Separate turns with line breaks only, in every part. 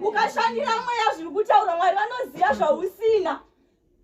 ukashandira mweya zviri kutaura mwari vanoziva zvausina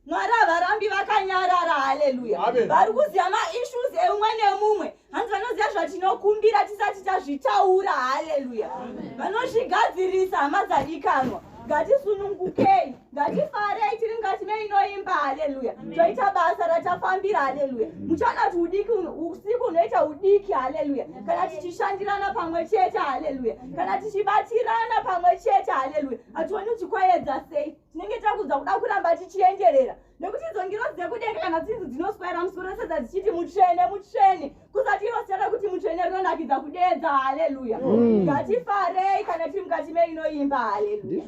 mwari havarambi vakanyarara haleluya vari kuziva maissues eumwe nemumwe hanzi vanoziva zvatinokumbira tisati tazvitaura haleluya vanozvigadzirisa hama dzadikanwa ngatisunungukei ngatifarei tiri mukati meinoimba haleluya toita basa ratafambira haleluya muchanati udiki usiku unoita udiki haleluya kana tichishandirana pamwe chete haleluya kana tichibatirana pamwe chete haleluya hationi kuti kwayedza sei tinenge takudza kuda kuramba tichienderera nekuti idzo ngiro dzekudenga kana dzinzi dzinoswaira musoro sedza dzichiti mutsvene mutsvene kusati inosiyana kuti mutsvene rinonakidza kudeedza haleluya mm. ngatifarei kana tiri mukati meinoimba haleluya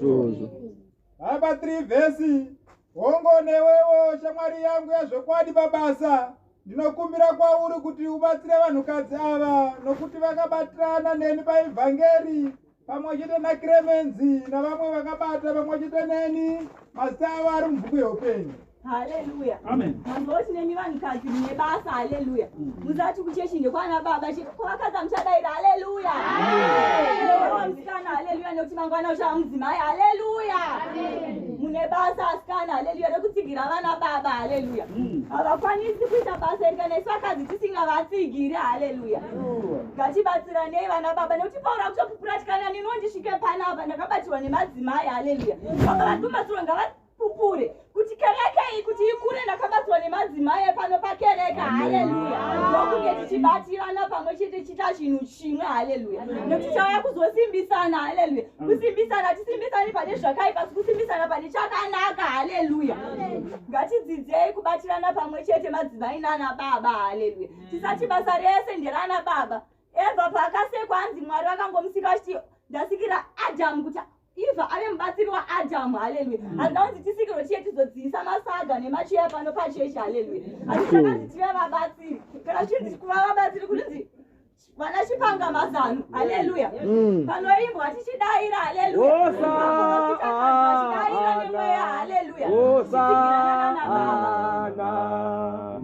hamba
3 vhesi hongo newewo shamwari yangu yazvokwadi pabasa ndinokumbira kwauri kuti ubatsire vanhukadzi ava nokuti vakabatirana neni paevhangeri pamwe chete nacremenzi navamwe vakabata pamwe chete neni mazita avo ari mubhuku yeupenyu haleluya
mamboti
nemi vanhukadzi
mune basa haleluya mm. musati kuchechi ndekwana baba kwavakadza muchadaira haleluya ndowa musikana haleluya nekuti mangwana uchava mudzimai haleluya mune basa asikana haleluya rekutsigira vana baba haleluya mm. havakwanisi kuita basa iri kana isu vakadzi tisingavatsigira haleluya ngatibatsiranei vana baba nekuti paura kutopupuratikana neniwo ndisvike panapa ndakabatirwa nemadzimai haleluya vanga vatobatsirwa ngavapupure kuti kereke iyi kuti ikure ndakabatsirwa nemadzimai epano pakereke haleluya ndokunge tichibatirana pamwe chete tichiita chinhu chimwe haleluya nekuti chauya kuzosimbisana haleluya kusimbisana tisimbisani pane zvakaipa sikusimbisana pane chakanaka haleluya ngatidzidzei kubatirana pamwe chete madzimai nana baba haleluya tisati basa rese nderana baba eva paakasekwa anzi mwari vakangomusika vachiti ndasikira adamu kuti eva ave mubatsiri waadamu haleluya mm. handina kunzi tisikirwe chiye tizodzivisa masaga nemacheya pano pachechi haleluya hatichakanzi tive vabatsiri kana chinzi kuva vabatsiri kurinzi vana chipanga mazano haleluya mm. panoimbwa tichidaira haleluyachidaira nemweya haleluya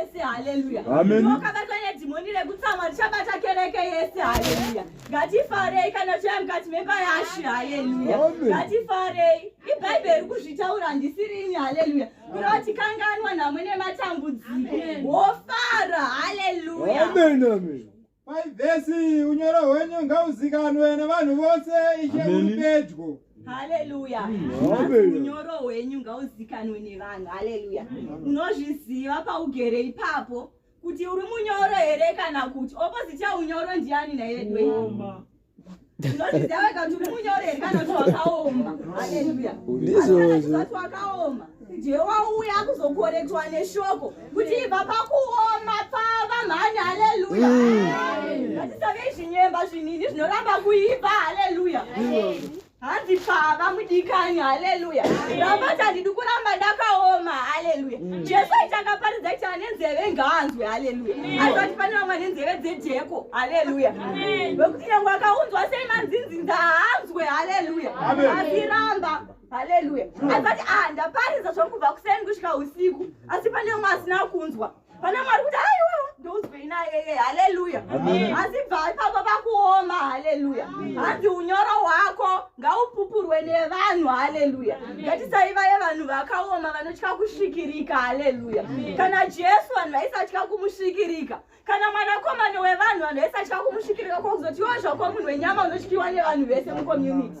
yese haleluya wakabatwa
nedhimoni
rekutsamwa richabata kereke yese haleluya ngatifarei kana chiya mukati memba yashi haleluya ngatifarei ibhaibheri kuzvitaura handisirini haleluya kureva kuti kanganwa namwe nematambudziko wofara haleluya
Paivhesi unyoro hwenyu ngauzikanwe nevanhu vose ishe uri pedyo. Haleluya.
Unyoro hwenyu ngauzikanwe nevanhu. Haleluya. Unozviziva paugere ipapo kuti uri munyoro here kana kuti opposite yaunyoro ndiani naiwe dwe. wauya kuzokorektwa neshoko kuti ibva pakuoma pava mhani haleluya mm. ngatisave zvinyemba zvinini zvinoramba kuipa haleluya hanzi baba mudikani haleluya ramati handidi kuramba ndakaoma haleluya mm. jesu aiti akaparidza kuti ane nzeve ngaanzwe haleluya asi vati pane vamwe ane nzeve dzejeko haleluya vekuti nyange akaunzwa sei manzinzinza haanzwe haleluya asiramba haleluya asi vati ah ndaparidza zvokubva kuseni kusvika usiku asi pane vamwe asina kunzwa Pana Mwari kuti aiwa ndounzwei naye haleluya. Asi bva ipapo pakuoma haleluya. Hanzi unyoro hwako ngaupupurwe nevanhu haleluya. Ngatisaiva yevanhu vakaoma vanotya kusvikirika haleluya. Kana Jesu vanhu vaisatya kumusvikirika. Kana mwanakomana wevanhu vanhu vaisatya kumusvikirika kwakuzoti iwo zvako munhu wenyama unotyiwa nevanhu vese mucommunity.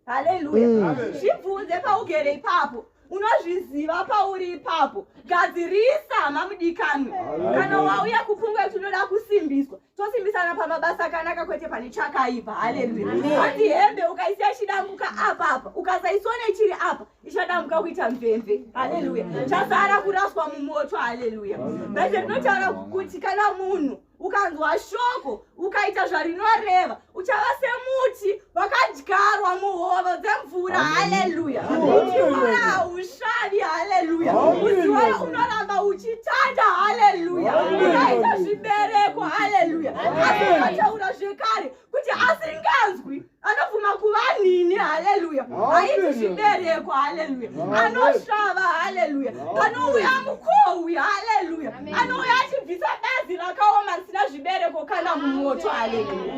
Haleluya. Zvibvunze paugere ipapo. unozviziva pauri ipapo gadzirisa hama mudikanwe kana wauya kupfungwa yekuti unoda kusimbiswa tosimbisana pamabasa akanaka kwete pane chakaipa haleluya ati hembe ukaisiya ichidambuka apa apa ukasaisona ichiri apa ichadambuka kuita mvemve haleluya chasara kuraswa mumoto haleluya bhaibheri rinotaura kuti kana munhu ukanzwa shoko ukaita zvarinoreva uchava semuti wakadyarwa muhoro dzemvura haleluya uchiora haushavi haleluya uchiora unoramba uchitanda haleluya ukaita zvibereko haleluya asi ukataura zvekare kuti asinganzwi anobvuma kuva nini haleluya haiti zvibereko haleluya anosvava haleluya panouya mukohwi haleluya anouya achibvisa bazi rakaoma risina zvibereko kana mumoto haleluya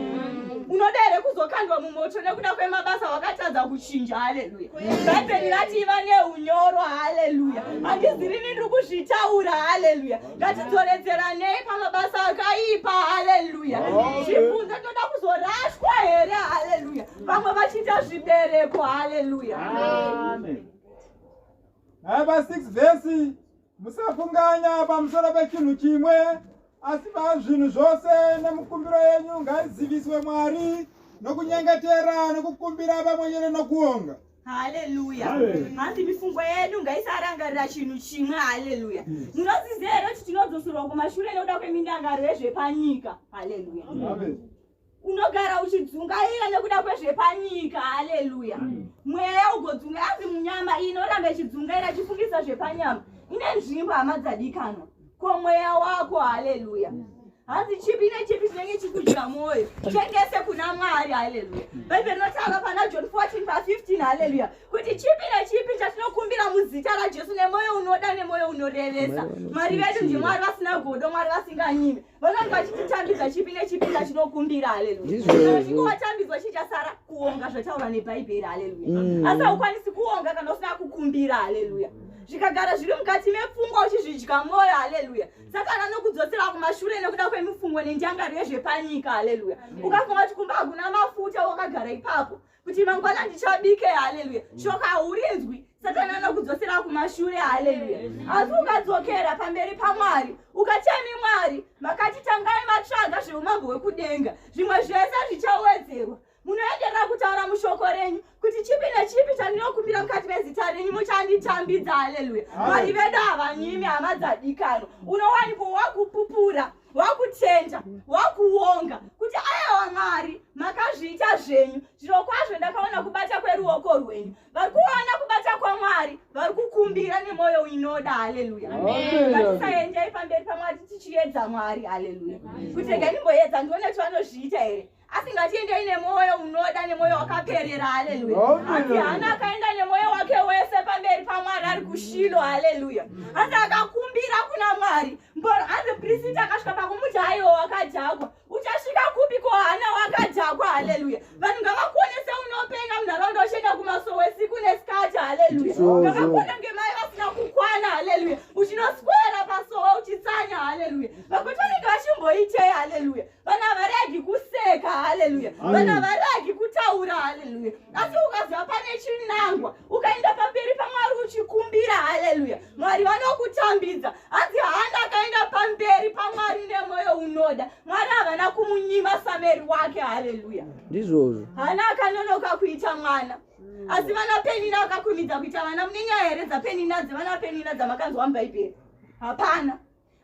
unoda here kuzokandwa mumoto nekuda kwemabasa wakatadza kuchinja haleluya bhaibheri rati iva neunyoro haleluya handizirini ndiri kuzvitaura haleluya ngatidzoredzeranei pamabasa akaipa haleluya zvibvunze toda kuzorashwa here haleluya vamwe vachiita zvibereko haleluya
hava 6 vhesi musafunganya pamusoro pechinhu chimwe asi pazvinhu zvose nemukumbiro yenyu ngaiziviswe mwari nokunyengetera nokukumbira pamwenyere nokuonga haleluya
hanzi mifungo yedu ngaisarangarira chinhu chimwe haleluya hmm. munoziziva here kuti tinodzoserwa kumashure nekuda kwemindangariro yezvepanyika haleluya unogara uchidzungaira nekuda kwezvepanyika haleluya hmm. mweya ugodzunga hanzi munyama inoramba ichidzungaira chifungisa zvepanyama ine nzvimbo hama dzadikanwa ko mweya wako haleluya hanzi chipi nechipi chinenge chikudya mwoyo chengese kuna mwari haleluya bhaibheri rinotaura pana john 14 pa 15 haleluya kuti chipi nechipi chatinokumbira muzita rajesu nemwoyo unoda nemwoyo unorevesa mwari vedu ndimwari vasina godo mwari vasinganyimi vanonge vachititambidza chipi nechipi chatinokumbira haleluyaikuwatambidzwa chichasara kuonga zvataura nebhaibheri haleluya mm. asi haukwanisi kuonga kana usina kukumbira haleluya zvikagara zviri mukati mepfungwa uchizvidya mwoyo haleluya satani anokudzosera kumashure nekuda kwemifungo nenjangariro yezvepanyika haleluya ukafunga kuti kumba hakuna mafuta wakagara ipapo kuti mangwana ndichabike haleluya shoka haurinzwi satani anokudzosera kumashure haleluya asi ukadzokera pamberi pamwari ukachemi mwari makati tangai matsvaga zveumambo hwekudenga zvimwe zvese zvichawedzerwa munoenderera kutaura mushoko renyu kuti chipi nechipi chandinokumbira mukati mezita renyu muchanditambidza haleluya mwari vedu havanyimi hama dzadikano unowanikwa wakupupura wakutenda wakuonga kuti ayawa mwari makazviita zvenyu zviro kwazvo ndakaona kubata kweruoko rwenyu vari kuona kubata kwamwari vari kukumbira nemwoyo inoda haleluya ngatisaendei pamberi pamwari tichiedza mwari haleluya kuti rega ndimboedza ndione kuti vanozviita here asi ngatiendei nemwoyo unoda nemwoyo wakaperera haleluya asi hana akaenda nemwoyo wake wese pamberi pamwari ari kushilo haleluya asi akakumbira kuna mwari mboro asi prisiti akasvika pakumuti haiwo wakadhakwa uchasvika kupi ko hana wakadhakwa haleluya vanhu ngavakuonese unopenga munharaunda uchienda kumasowe siku nesikati haleluya ngavakuona ngemai vasina kukwana haleluya uchinoswera pasowe uchitsanya haleluya vakuti vanenge vachimboitei haleluya Vana varegi kuseka, haleluya. Mm. Vana varegi kutaura, haleluya. Asi ukaziva pane chinangwa, ukaenda pamberi paMwari uchikumbira, haleluya. Mwari vanokutambidza. Hanzi Hana akaenda pamberi paMwari nemwoyo unoda. Mwari havana kumunyima sameri wake, haleluya. Ndizvozvo. Hana
akanonoka
kuita mwana. Mm. Asi vana Penina akakumidza kuita vana. Mune nyaya here dzaPenina dzevana Penina dzamakanzwa muBhaibheri? Hapana.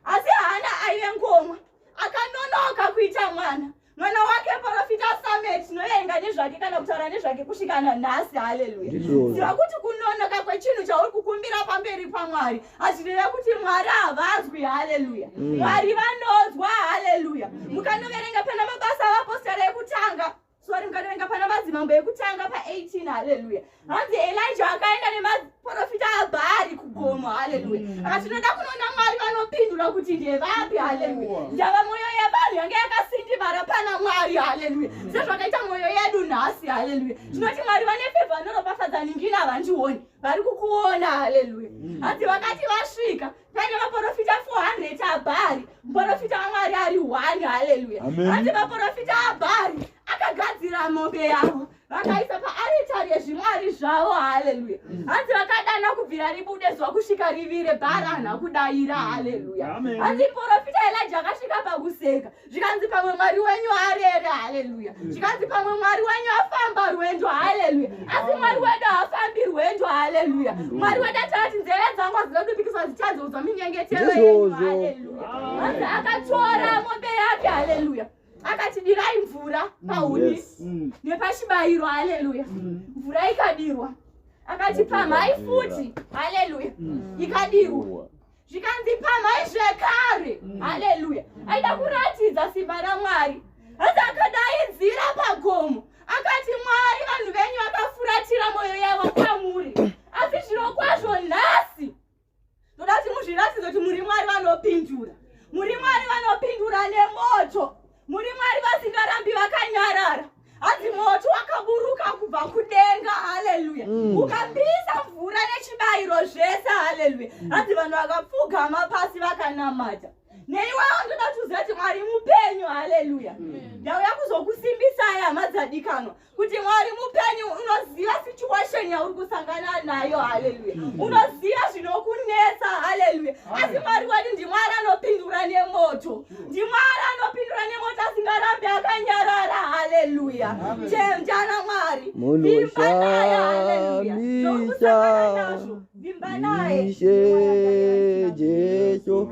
asi haana aive ngomwa akanonoka kuita mwana mwana wake profita samet noyenga nezvake kana kutaura nezvake kusvikana nhasi haleluya ziva kuti kunonoka kwechinhu chauri kukumbira pamberi pamwari hazvireve kuti mwari havazwi haleluya mm. mwari vanozwa haleluya mukanoverenga pana mabasa avapostora ekutanga sori mukatovenga pana madzimambo ekutanga pa18 haleluya hanzi elija akaenda nemaprofita abhaari kugomo haleluya mm. akati tinoda kunoona mwari vanopindura kuti ndevapi haleluya ndava mwoyo yevanhu yange yakasindimara pana mwari haleluya mm. sezvakaita mwoyo yedu nhasi haleluya mm. tinoti mwari vane fevha anoropafadza ningina vandioni vari kukuona haleluya hanzi vakati vasvika pane vaprofita 400 abhari muprofita wamwari ari one haleluya ati vaprofita abhari vakagadzira mombe yavo vakaisa paaritari yezvimwari zvavo haleluya hanzi vakadana kubvira ribude zuva kusvika rivire bhara hana kudaira haleluya hanzi profita elija akasvika pakuseka zvikanzi pamwe mwari wenyu arere haleluya zvikanzi pamwe mwari wenyu afamba rwendo haleluya asi mwari wedu haafambi rwendo haleluya mwari wedu atati nzeve dzangu hazina kupikiswa dzichadzoudzwa minyengetero yenyu haleluya anzi akatora mombe yake haleluya akati dirai mvura pahuni mm. nepashibairo haleluya mm. mvura ikadirwa akati pamhai futi haleluya mm. ikadirwa zvikanzi pamhai zvekare mm. haleluya aida kuratidza simba ramwari asi akadaidzira pagomo akati mwari vanhu venyu vakafuratira mwoyo yavo kwamuri asi zvino kwazvo nhasi ndoda kuti muzviratidze kuti muri mwari vanopindura muri mwari vanopindura nemoto Muri Mwari vasingarambi vakanyarara. Hanzi moto wakaburuka kubva kudenga. Haleluya. Mm. Ukapisa mvura nechibayiro zvese. Haleluya. Mm. Hanzi vanhu vakapfugama pasi vakanamata. Neiwawo ndoda kuziva kuti Mwari mupenyu. Haleluya. Mm. Ndauya kuzokusimbisai hama dzadikanwa. kuti mwari mupenyu unoziva situation yauri kusangana nayo haleluya mm. unoziva zvinokunetsa haleluya asi mwari wedu ndimwari anopindura nemoto mm. ndimwari anopindura nemoto asingarambi akanyarara haleluya chenjana mwari vimba naye haleluya zvokusangana nazvo vimba naye jesu